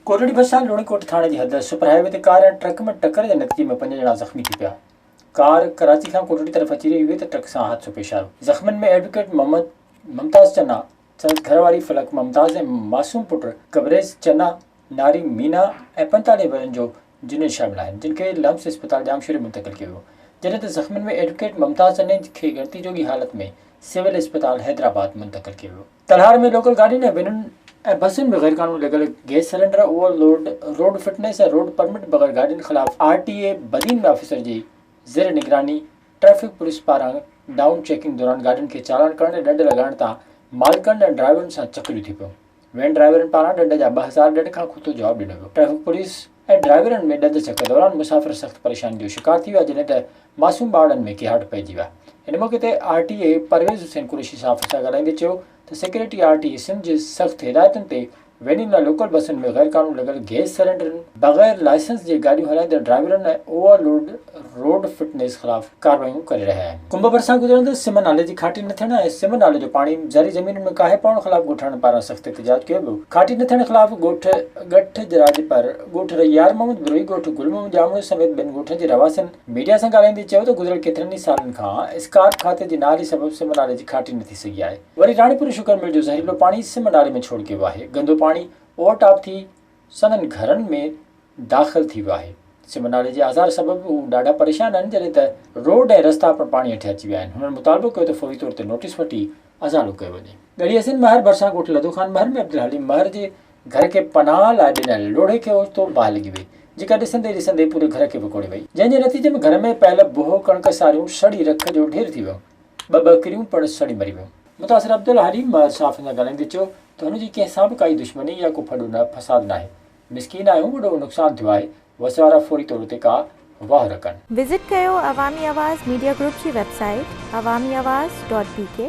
ڪورڙي ڀرسان لوڻي ڪوٽ ٿاڻي جي حد سپر هاء وي تي ڪار ۽ ٽرڪ ۾ ٽڪر جي نتيجي ۾ پنج ڄڻا زخمي ٿي پيا. ڪار ڪراچي کان ڪورڙي طرف اچي رهي هئي ته ٽرڪ سان حادثو پيش آيو. زخمين ۾ ايڊووڪيٽ محمد ممتاز چنا، سندس گهر واري فلڪ ممتاز ۽ معصوم پٽ قبريز چنا ناري مينا ۽ پنجتاليهه ورهين جو جنيد شامل آهن، جن کي لمس اسپتال ڄامشوري منتقل ڪيو ويو، جڏهن ته زخمين ۾ ايڊوڪيٽ ممتاز جنيد کي ڳڻتي جوڳي حالت ۾ سول اسپتال حيدرآباد منتقل ڪيو ويو. تلهار ۾ لوڪل گاڏين ۽ وينن ۽ بسن ۾ غيرقانوني لڳل gas cylinder, overload, road fitness ۽ road permit بغير گاڏين خلاف R T A Badin ۾ officer جي زير نگراني ٽريفڪ پوليس پاران ڊائون چيڪنگ دوران گاڏين کي چالان ڪرڻ ۽ ڏنڊ لڳائڻ تان مالڪن ۽ ڊرائيورن سان چڪريون ٿي پيون. وين ڊرائيورن پاران ڏنڊ جا ٻه هزار ڏنڊ کان کتو جواب ڏنو ويو، ٽريفڪ پوليس ۽ ڊرائيورن ۾ ڏند ڇڪ دوران مسافر سخت پريشانين جو شڪار ٿي ويا جڏهن ته معصوم ٻارڙن ۾ ڪهاٽ پئجي ويا ان موقعي تي R T A Pervez Hussain Qureshi صحافين سان ڳالهائيندي چيو ته secretary R T A Sindh جي سخت هدايتن تي وينين ۽ لوڪل بسن ۾ غيرقانون لڳل گئس سلينڊرن بغير لائسنس جي گاڏيون هلائيندڙ ڊرائيورن ۽ اوور لوڊ روڊ فٽنيس خلاف ڪاروايون ڪري رهيا آهن. ڪنڀ ڀرسان گذرندڙ سم نالي جي کاٽي نه ٿيڻ ۽ سم نالي جو پاڻي زرعي زمينن ۾ ڪاهي پوڻ خلاف ڳوٺاڻن پاران سخت احتجاج ڪيو ويو. کاٽي نه ٿيڻ خلاف ڳوٺ ڳٺ جراجپر، ڳوٺ رئي يار محمد بروهي، ڳوٺ گل محمد ڄامڙو سميت ٻين ڳوٺن جي رهواسين ميڊيا سان ڳالهائيندي چيو ته گذريل ڪيترن ئي سالن کان اسڪارپ کاتي جي نااهلي سبب سم نالي جي کاٽي نه ٿي سگهي آهي. وري راڻيپور شوگر مل جو زهريلو پاڻي سم نالي ۾ ڇوڙ ڪيو ويو آهي. گندو پاڻي اوور ٽاپ ٿي سندن گهرن ۾ داخل ٿي ويو آهي. سم نالي جي آزار سبب هو ڏاڍا پريشان آهن جڏهن ته روڊ ۽ رستا پڻ پاڻي هيٺ اچي ويا آهن. هنن مطالبو ڪيو ته فوري طور تي نوٽيس وٺي ازالو ڪيو وڃي. ڳڙهي حسين مهر ڀرسان ڳوٺ لدو خان مهر ۾ عبدالحليم مهر جي گهر کي پناهه لاء ڏنل لوڙهي کي اوچتو باهه لڳي وئي جيڪا ڏسندي ڏسندي پوري گهر کي وڪوڙي وئي جنهن جي نتيجي ۾ گهر ۾ پيل بوهه ڪڻڪ ساريون سڙي رک جو ڍير ٿي ويون. ٻه ٻڪريون پڻ سڙي مري ويون. متاثر عبدالحليم صحافين سان ڳالهائيندي چيو ته هن جي ڪنهن سان به ڪائي دشمني يا ڪو ڦڏو نه فساد ناهي، مسڪين آهيون وڏو نقصان ٿيو آهي، وسيارا فوري طور تي ڪا واهه رکن. وزٽ ڪيو عوامي آواز ميڊيا گروپ جي website Awami Awaz dot بي ڪي.